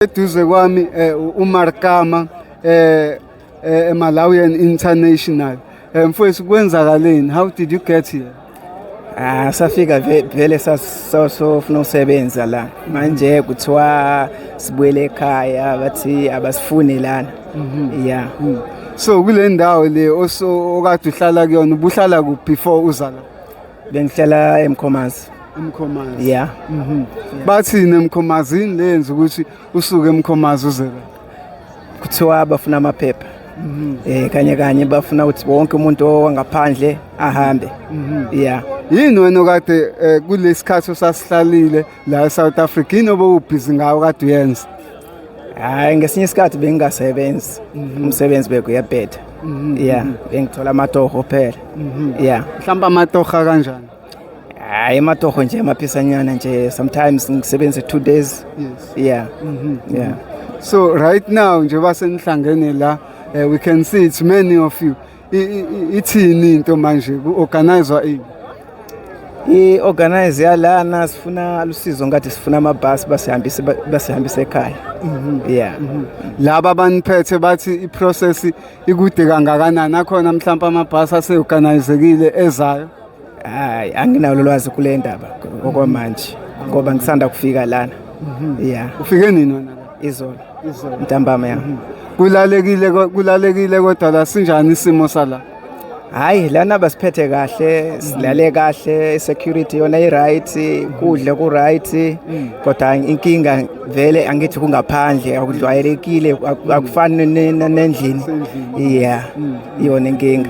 Eduze kwami eh, uMarkama eh, eh, Malawian International. Eh, Mfowethu kwenzakaleni? How did you get here? Ah, safika ve- vele sas- so- sofuna usebenza la manje kuthiwa sibuyele ekhaya bathi abasifuni lana ya So kule ndawo le oso okade uhlala kuyona ubuhlala kuphi before uza la? Bengihlala eMkhomazi. Umkhomazi. Yeah. Mhm. Bathini emkhomazini lenza ukuthi usuke emkhomazi uze la? Kuthiwa bafuna amaphepha. Eh kanye kanye bafuna ukuthi wonke umuntu owangaphandle ahambe. Yeah. Yini wena okade eh, kulesikhathi osasihlalile la eSouth Africa yini obowubhizi ngawo kade uyenza hayi ngesinye isikhathi bengingasebenzi mhm. umsebenzi beke uyabheda mhm. ya bengithola amatoho phela mhm. ya mhlawumbe amatoha kanjani hayi amatoho nje amaphisanyana nje sometimes ngisebenze two days ya ya so right now njengoba senihlangene la eh, we can see it's many of you ithini into manje ku-organizwa ini i-organize yalana sifuna lusizo ngathi sifuna amabhasi basihambise basihambise ekhaya mhm. yeah mhm. laba baniphethe bathi i-process ikude kangakanani akhona mhlawumbe amabhasi aseorganizekile ezayo hayi anginalo lwazi kule ndaba okwamanje ngoba ngisanda kufika lana mhm. ya ufike nini wena izolo izolo ntambama ya mhm. kulalekile kulalekile kodwa la sinjani isimo sala hayi lana basiphethe kahle mhm. silale kahle security yona i-right kudle ku-right kodwa inkinga vele angithi kungaphandle akudlwayelekile akufani nendlini ya iyona inkinga